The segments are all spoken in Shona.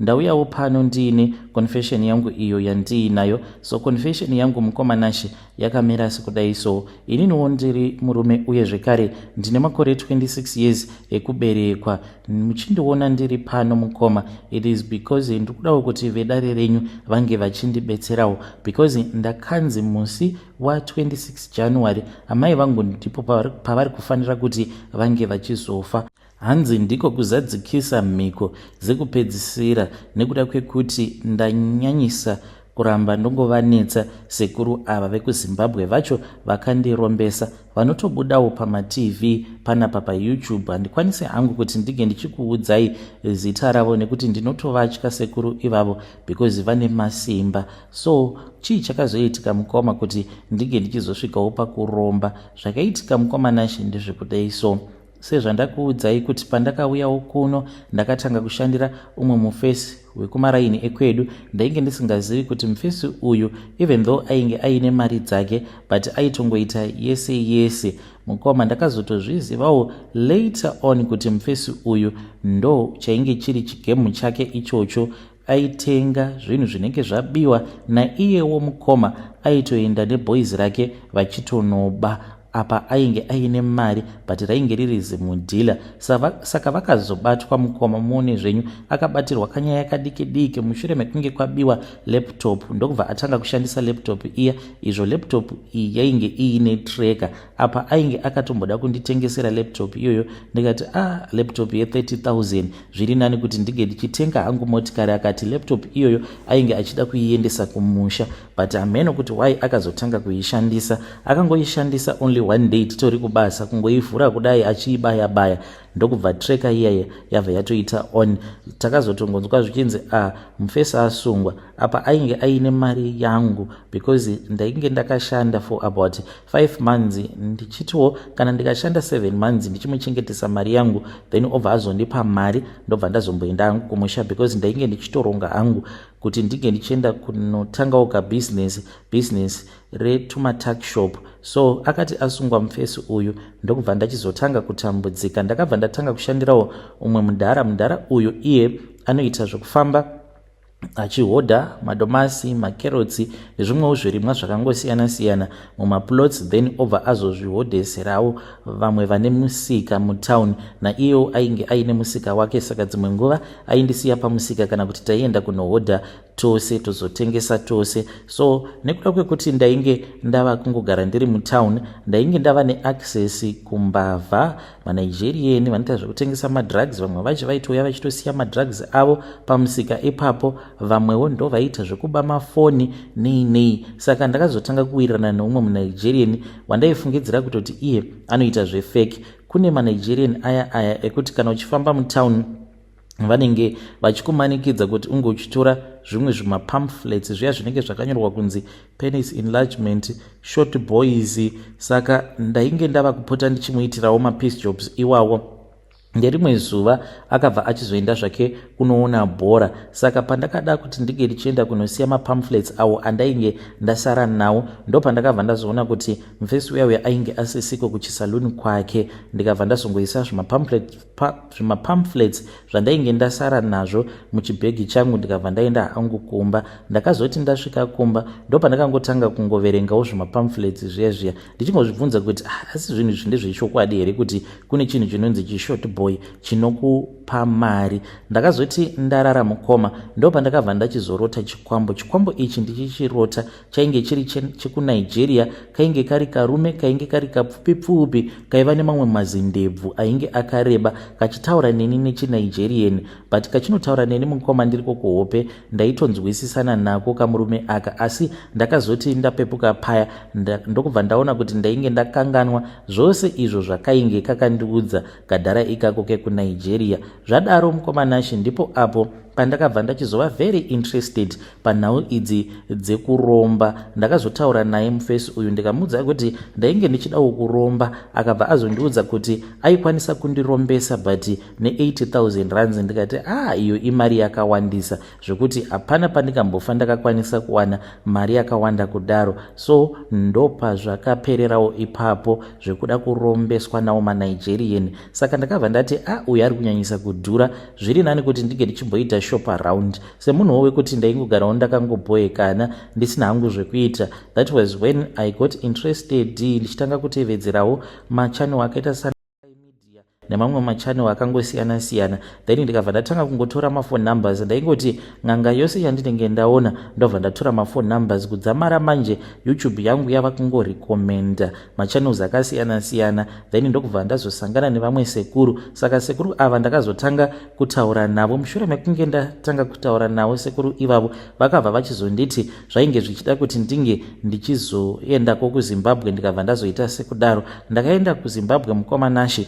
Ndauyawo pano ndiine confession yangu iyo yandiinayo so confession yangu mukoma Nashe yakamira sekudai so ininiwo ndiri murume uye zvekare ndine makore 26 years ekuberekwa muchindiona ndiri pano mukoma it is because ndikudawo kuti vedare renyu vange vachindibetserawo because ndakanzi musi wa 26 January amai vangu ndipo pavari kufanira kuti vange vachizofa Hanzi ndiko kuzadzikisa mhiko dzekupedzisira nekuda kwekuti ndanyanyisa kuramba ndongovanetsa sekuru ava vekuzimbabwe vacho vakandirombesa vanotobudawo pamatv panapa payoutube handikwanise hangu kuti ndige ndichikuudzai zita ravo nekuti ndinotovatya sekuru ivavo because vane masimba so chii chakazoitika mukoma kuti ndige ndichizosvikawo pakuromba zvakaitika mukoma nashe ndezvekudai so sezvandakuudzai kuti pandakauyawo kuno ndakatanga kushandira umwe mufesi wekumaraini ekwedu ndainge ndisingazivi kuti mufesi uyu even though ainge aine mari dzake but aitongoita yese yese mukoma ndakazotozvizivawo later on kuti mufesi uyu ndo chainge chiri chigemu chake ichocho aitenga zvinhu zvinenge zvabiwa naiyewo mukoma aitoenda neboys rake vachitonoba apa ainge aine mari but rainge riri zimudhila saka vakazobatwa mukoma muone zvenyu akabatirwa kanyaya kadiki diki mushure mekunge kwabiwa laptop ndokubva atanga kushandisa laptop iya izvo laptop iyi yainge iine tracker apa ainge akatomboda kunditengesera laptop iyoyo ndikati a ah, laptop ye30000 zviri nani kuti ndinge ndichitenga hangu motikari akati laptop iyoyo ainge achida kuiendesa kumusha but hameno kuti why akazotanga kuishandisa akangoishandisa only one day titori kubasa kungoivhura kudai achiibaya baya ndokubva treka iyaye yabva yatoita on takazotongonzwa zvichinzi a ah, mufesi asungwa apa ainge aine mari yangu because ndainge ndakashanda for about 5 months ndichitiwo kana ndikashanda 7 months ndichimuchengetesa mari yangu then obva azondipa mari ndobva ndazomboenda hangu kumusha because ndainge ndichitoronga hangu kuti ndinge ndichienda kunotangawo kabusiness business retumatak shop so akati asungwa mufesi uyu ndokubva ndachizotanga kutambudzika ndakabva ndatanga kushandirawo umwe mudhara mudhara uyu iye anoita zvekufamba achihodha madomasi makerotsi nezvimwewo zvirimwa zvakangosiyana siyana mumaplots then obva azozvihodheserawo vamwe vane musika mutown naiyewo ainge aine musika wake saka dzimwe nguva aindisiya pamusika kana kuti taienda kunohodha tose tozotengesa tose so nekuda kwekuti ndainge ndava kungogara ndiri mutown ndainge ndava neaccess kumbavha manigerian vanoita zvekutengesa madrugs vamwe vacho vaitouya vachitosiya madrugs avo pamusika ipapo vamwewo ndo vaiita zvekuba mafoni nei nei saka ndakazotanga kuwirirana neumwe munigerian wandaifungidzira kutoti iye anoita zvefeki kune manigerian aya aya ekuti kana uchifamba mutown vanenge vachikumanikidza kuti unge uchitora zvimwe zvimapamphlets zviya zvinenge zvakanyorwa kunzi penis enlargement short boys saka ndainge ndava kupota ndichimuitirawo mapeace jobs iwawo nderimwe zuva akabva achizoenda zvake kunoona bhora saka pandakada kuti ndinge ndichienda kunosiya mapamphlets awo andainge ndasara nawo ndopandakabva ndazoona kuti mfesi uya uya ainge asisiko kuchisaluni kwake ndikabva ndazongoisa zvimapamphlets pa zvimapamphlets zvandainge ndasara nazvo muchibhegi changu ndikabva ndaenda hangu kumba ndakazoti ndasvika kumba ndopandakangotanga kungoverengawo zvimapamphlets zviya zviya ndichingozvibvunza kuti ah, asi zvinhu izvi ndezvechokwadi here kuti kune chinhu chinonzi chishort boy chinokupa mari ndakazoti ndarara mukoma ndopandakabva ndachizorota chikwambo chikwambo ichi ndichichirota chainge chiri chekunigeria kainge kari karume kainge kari kapfupi pfupi kaiva nemamwe mazindebvu ainge akareba kachitaura neni nechinigerian but kachinotaura neni mukoma ndiriko kuhope ndaitonzwisisana nako kamurume aka asi ndakazoti ndapepuka paya ndokubva ndaona kuti ndainge ndakanganwa zvose izvo zvakainge kakandiudza kadhara ikako kekunigeria zvadaro mukomanashe ndipo apo pandakabva ndachizova very interested Panhau idzi dzekuromba ndakazotaura naye mufesi uyu ndikamuudza kuti ndainge ndichidawo kuromba akabva azondiudza kuti aikwanisa kundirombesa but ne80000 runs ndikati aa ah, iyo imari yakawandisa zvekuti hapana pandikambofa ndakakwanisa kuwana mari yakawanda kudaro so ndopazvakapererawo ipapo zvekuda kurombeswa nawo manigerian saka ndakabva ndati a ah, uyu ari kunyanyisa kudhura zviri nani kuti ndinge ndichimboita shop around semunhuwo wekuti ndaingogarawo ndakangobhoekana ndisina hangu zvekuita that was when i got interested ndichitanga kutevedzerawo machannel akaita sana nemamwe machannel akangosiyana siyana then ndikabva ndatanga kungotora maphone numbers ndaingoti n'anga yose yandinenge ndaona ndobva ndatora maphone numbers kudzamara manje youtube yangu yava kungorecommenda machannels akasiyana siyana then ndokubva ndazosangana nevamwe sekuru saka sekuru ava ndakazotanga kutaura navo mushure mekunge ndatanga kutaura navo sekuru ivavo vakabva vachizonditi zvainge zvichida kuti ndinge ndichizoendako kuzimbabwe ndikabva ndazoita sekudaro ndakaenda kuzimbabwe mukoma nashe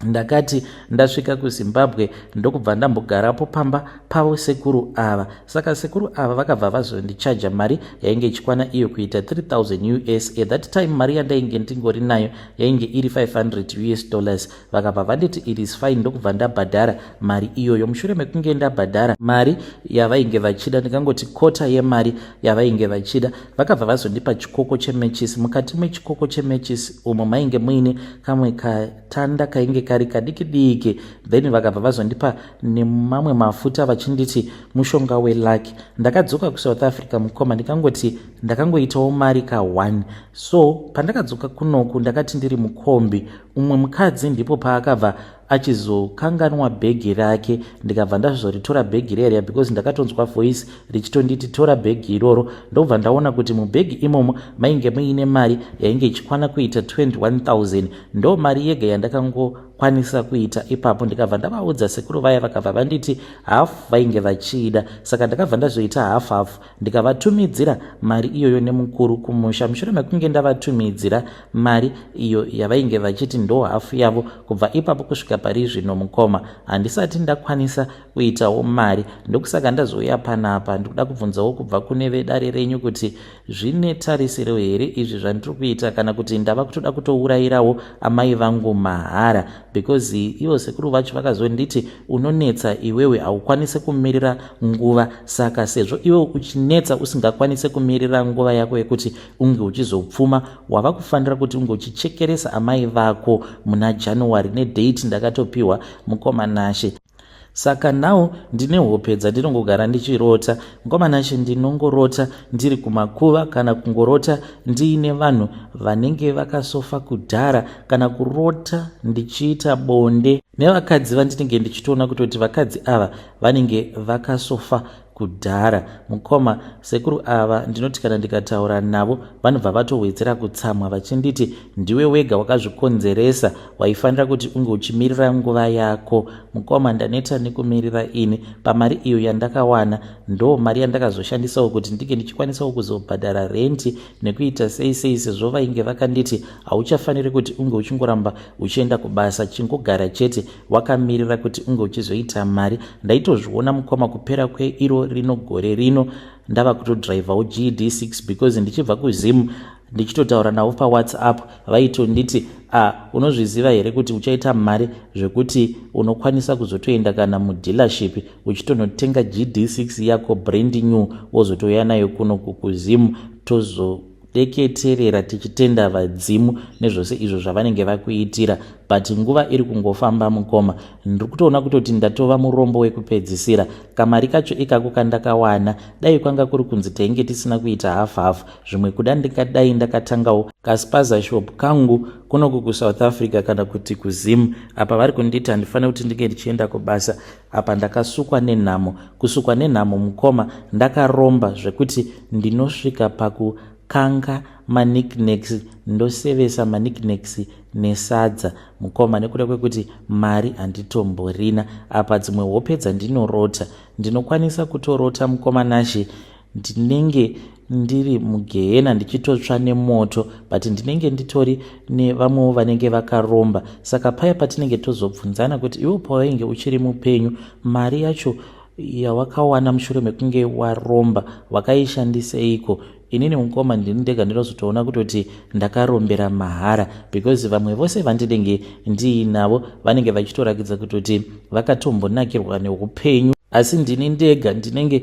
ndakati ndasvika kuzimbabwe ndokubva ndambogarapo pamba pavo sekuru ava saka sekuru ava vakabva vazondichaja mari yainge ichikwana iyo kuita 3000 us at that time mari yandainge ndingori nayo yainge iri 500 us dollars vakabva vanditi it is fine ndokubva ndabhadhara mari iyoyo mushure mekunge ndabhadhara mari yavainge vachida ndikangoti kota yemari yavainge vachida vakabva vazondipa chikoko chemechisi mukati mechikoko chemechisi umo mainge muine kamwe katanda kainge kari kadiki diki then vakabva vazondipa nemamwe mafuta vachinditi mushonga welaki ndakadzoka kusouth africa mukoma ndikangoti ndakangoitawo mari ka1 so pandakadzoka kunoku ndakati ndiri mukombi umwe mukadzi ndipo paakabva achizokanganwa bhegi rake ndikabva ndazvizoritora bhegi reriya because ndakatonzwa voice richitonditi tora bhegi iroro ndokubva ndaona kuti mubhegi imomo mainge muine mari yainge ichikwana kuita 21000 ndo mari yega yandakangokwanisa kuita ipapo ndikabva ndavaudza sekuru vaya vakabva vanditi half vainge vachiida saka ndakabva ndazoita half half ndikavatumidzira mari iyoyo nemukuru kumusha mushure mekunge ndavatumidzira mari iyo yavainge vachiti ndo hafu yavo kubva ipapo kusvika pari zvino mukoma handisati ndakwanisa kuitawo mari ndokusaka ndazouya panapa ndikuda kubvunzawo kubva kune vedare renyu kuti zvine tarisiro here izvi zvandiri kuita kana kuti ndava kutoda kutourayirawo amai vangu mahara because ivo sekuru vacho vakazonditi unonetsa iwewe haukwanise kumirira nguva saka sezvo iwe uchinetsa usingakwanise kumirira nguva yako yekuti unge uchizopfuma wava kufanira kuti unge uchichekeresa amai vako muna january nedate ndakatopiwa mukoma nashe saka now ndine hope dzandinongogara ndichirota mkomanashe ndinongorota ndiri kumakuva kana kungorota ndiine vanhu vanenge vakasofa kudhara kana kurota ndichiita bonde nevakadzi vandinenge ndichitoona kutoti vakadzi ava vanenge vakasofa kudhara mukoma sekuru ava ndinoti kana ndikataura navo vanobva vatowedzera kutsamwa vachinditi ndiwe wega wakazvikonzeresa waifanira kuti unge uchimirira nguva yako mukoma ndaneta nekumirira ini pamari iyo yandakawana ndo mari yandakazoshandisawo kuti ndinge ndichikwanisawo kuzobhadhara renti nekuita sei sei sezvo vainge vakanditi hauchafaniri kuti unge uchingoramba uchienda kubasa chingogara chete wakamirira kuti unge uchizoita mari ndaitozviona mukoma kupera kweiro rino gore rino ndava kutodrivhawo gd 6 because ndichibva kuzim ndichitotaura navo pawhatsapp vaitonditi a ah, unozviziva here kuti uchaita mari zvekuti unokwanisa kuzotoenda kana mudealership uchitonotenga gd 6 yako brand new wozotouya nayo kuno kukuzim tozo deketerera tichitenda vadzimu nezvose izvo zvavanenge vakuitira but nguva iri kungofamba mukoma ndiri kutoona kutoti ndatova murombo wekupedzisira kamari kacho ikako kandakawana dai kwanga kuri kunzi tainge tisina kuita half half zvimwe kuda ndingadai ndakatangawo kaspaza shop kangu kunoku kusouth africa kana kuti kuzim apa vari kunditi handifanire kuti ndinge ndichienda kubasa Apa ndakasukwa nenhamo. Kusukwa nenhamo mukoma ndakaromba zvekuti ndinosvika pakukanga manikneks ndosevesa manikneks nesadza mukoma nekuda kwekuti mari handitomborina. Apa dzimwe hope dzandinorota ndinokwanisa kutorota mukoma Nashe ndinenge ndiri mugehena ndichitotsva nemoto but ndinenge nditori nevamwewo vanenge vakaromba saka paya patinenge tozobvunzana kuti iwo pawainge uchiri mupenyu mari yacho yawakawana mushure mekunge waromba wakaishandiseiko inini mukoma ndini ndega ndinozotoona kutoti ndakarombera mahara because vamwe vose vandinenge ndiinavo vanenge vachitorakidza kutoti vakatombonakirwa neupenyu asi ndini ndega ndinenge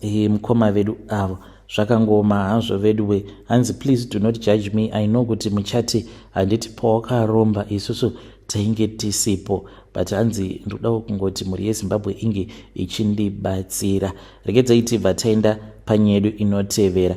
Hey, mukoma vedu avo zvakangooma hazvo veduwe hanzi please do not judge me i know kuti muchati handiti pawakaromba isusu tainge tisipo but hanzi ndodawo kungoti mhuri yezimbabwe inge ichindibatsira regedzai tibva taenda panyedu inotevera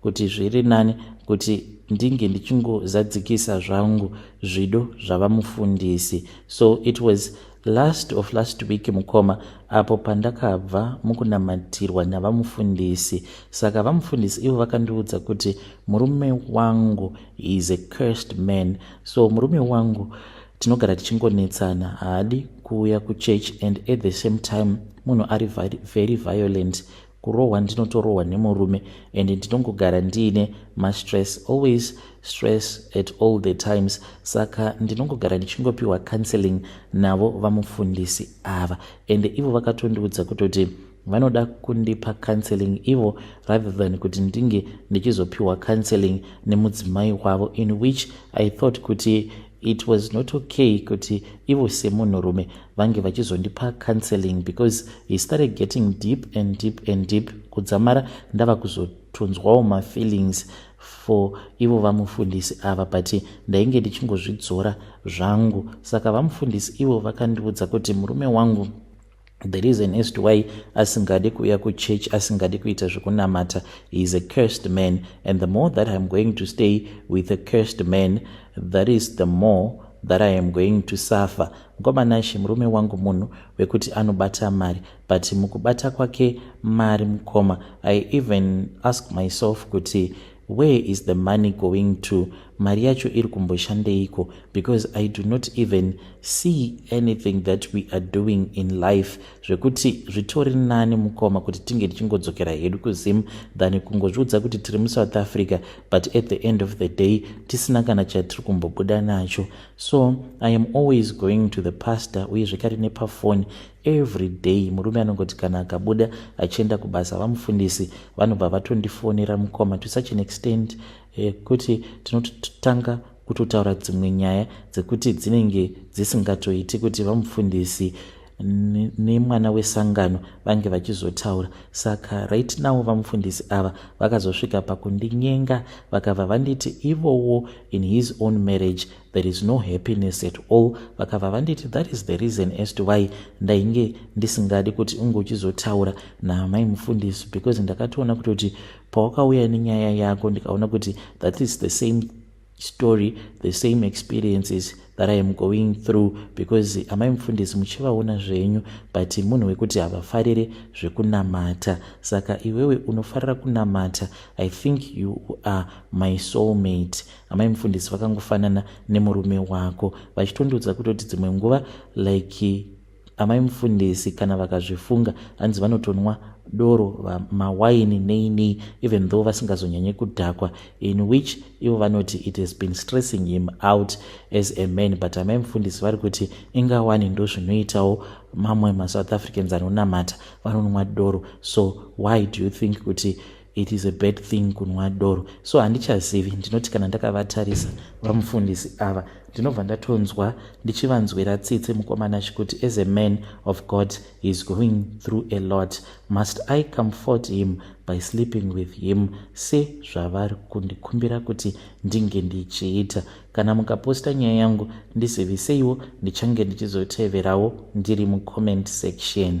kuti zviri nani kuti ndinge ndichingozadzikisa zvangu zvido zvavamufundisi so it was last of last week mukoma apo pandakabva mukunamatirwa navamufundisi saka vamufundisi ivo vakandiudza kuti murume wangu is a cursed man so murume wangu tinogara tichingonetsana haadi kuuya kuchurch and at the same time munhu ari very violent kurohwa ndinotorohwa nemurume and ndinongogara ndiine mastress always stress at all the times saka ndinongogara ndichingopiwa counseling navo vamufundisi ava and ivo vakatondiudza kutoti vanoda kundipa counseling ivo rather than kuti ndinge ndichizopiwa counseling nemudzimai wavo in which i thought kuti it was not okay kuti ivo semunhurume vange vachizondipa counseling because he started getting deep and deep and deep kudzamara ndava kuzotonzwawo mafeelings for ivo vamufundisi ava but ndainge ndichingozvidzora zvangu saka vamufundisi ivo vakandiudza kuti murume wangu the reason as to why asingadi kuuya kuchurch asingadi kuita zvekunamata he is a cursed man and the more that iam going to stay with a cursed man that is the more that i am going to suffer mukomanashe murume wangu munhu wekuti anobata mari but mukubata kwake mari mukoma i even ask myself kuti Where is the money going to? Mari yacho iri kumboshandeiko? Because I do not even see anything that we are doing in life zvekuti zvitori nani mukoma kuti tinge tichingodzokera hedu kuZim than kungozviudza kuti tiri muSouth Africa but at the end of the day tisina kana chatiri kumbobuda nacho. So I am always going to the pastor uye zvekare nepafoni every day murume anongoti kana akabuda achienda kubasa vamufundisi vanobva vatondifonera mukoma to such an extent yekuti eh, tinototanga kutotaura dzimwe nyaya dzekuti dzinenge dzisingatoiti kuti vamufundisi nemwana wesangano vange vachizotaura saka right now vamufundisi ava vakazosvika pakundinyenga vakabva vanditi ivowo in his own marriage there is no happiness at all vakabva vanditi that is the reason as to why ndainge ndisingadi kuti unge uchizotaura naamai mufundisi because ndakatoona kutoti pawakauya nenyaya yako ndikaona kuti that is the same story the same experiences that i am going through because amai mufundisi muchivaona zvenyu but munhu wekuti havafarire zvekunamata saka iwewe unofarira kunamata i think you are my soulmate amai mufundisi vakangofanana nemurume wako vachitondiudza kutoti dzimwe nguva like amai mufundisi kana vakazvifunga hanzi vanotonwa doro mawaini nei nei even though vasingazonyanye kudhakwa in which ivo vanoti it has been stressing him out as a man but amai mufundisi vari kuti ingawani ndo zvinoitawo mamwe masouth africans anonamata vanonwa doro so why do you think kuti It is a bad thing kunwa doro so handichazivi ndinoti kana ndakavatarisa vamufundisi ava ndinobva ndatonzwa ndichivanzwira tsitsi mukomana chikuti as a man of god he is going through a lot must i comfort him by sleeping with him se zvavari kundikumbira kuti ndinge ndichiita kana mukaposta nyaya yangu ndiziviseiwo ndichange ndichizoteverawo ndiri mucomment section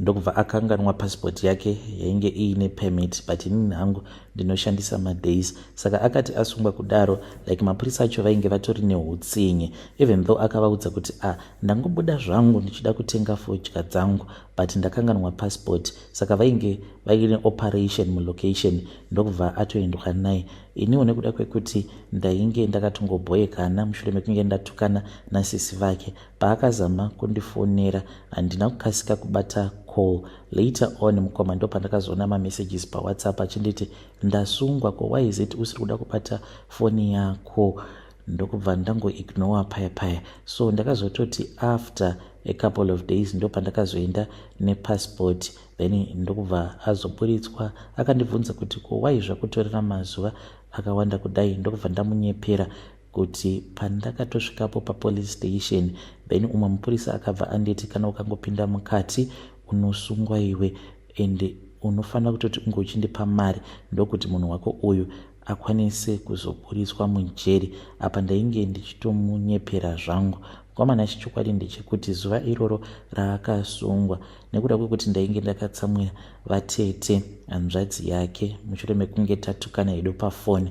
ndokubva akanganwa passport yake yainge iine permit but inini hangu ndinoshandisa madays saka akati asungwa kudaro like mapurisa acho vainge vatori neutsinye even though akavaudza kuti a ah, ndangobuda zvangu ndichida kutenga fodya dzangu but ndakanganwa passport saka vainge vaine operation mulocation ndokubva atoendwa naye iniwo nekuda kwekuti ndainge ndakatongobhoyekana mushure mekunge ndatukana nasisi vake Paakazama kundifonera handina kukasika kubata call. Later on mukoma ndopandakazoona mamessages paWhatsApp achinditi ndasungwa ko why is it usiri kuda kubata foni yako ndokubva ndangoignore paya paya so ndakazototi after a couple of days ndopandakazoenda nepassport then ndokubva azoburitswa akandibvunza kuti ko wai zvakutorera mazuva akawanda kudai ndokubva ndamunyepera kuti pandakatosvikapo papolice station then umwe mupurisa akabva anditi kana ukangopinda mukati unosungwa iwe and unofanira kutoti unge uchindipa mari ndokuti munhu wako uyu akwanise kuzoburitswa mujeri apa ndainge ndichitomunyepera zvangu mukomana chichokwadi ndechekuti zuva iroro raakasungwa nekuda kwekuti ndainge ndakatsamwira vatete hanzvadzi yake mushure mekunge tatukana hedu pafoni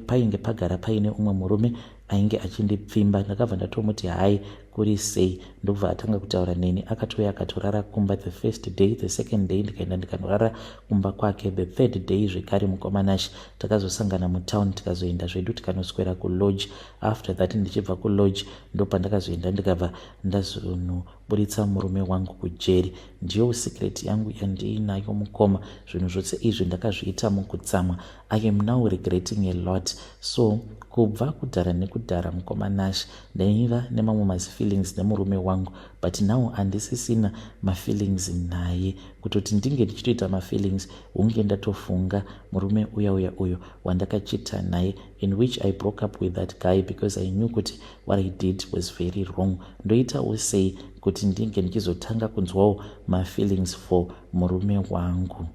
painge pagara paine umwe murume ainge achindipfimba ndakabva ndatomuti hai kuri sei ndokubva atanga kutaura neni akatouya akatorara kumba the first day the second day ndikaenda ndikanorara kumba kwake the third day zvekare mukomanashi takazosangana mutown tikazoenda zvedu tikanoswera kulodge after that ndichibva kulodge ndopandakazoenda ndikabva ndazono Buritsa murume wangu kujeri. Ndiyo secret yangu yandiinayo mukoma. Zvinhu zvose izvi ndakazviita mukutsamwa. I am now regretting a lot. So kubva kudhara nekudhara mukoma Nash ndaiva nemamwe mazifeelings nemurume wangu but now handisisina mafeelings naye. Kutoti ndinge ndichitoita mafeelings hunge ndatofunga murume uya uya uyo wandakachita naye in which I broke up with that guy because I knew kuti What I did was very wrong. Ndoitawo sei kuti ndinge ndichizotanga kunzwawo mafeelings for murume wangu?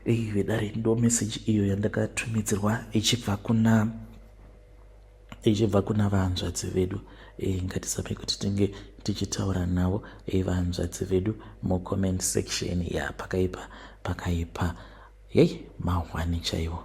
Iyi vedare ndo message iyo yandakatumidzirwa ichibva kuna ichibva kuna vahanzvadzi vedu e, eh, ngatisame kuti tinge tichitaura navo e, vahanzvadzi vedu mucomment section ya pakaipa pakaipa yei mahwani chaiwo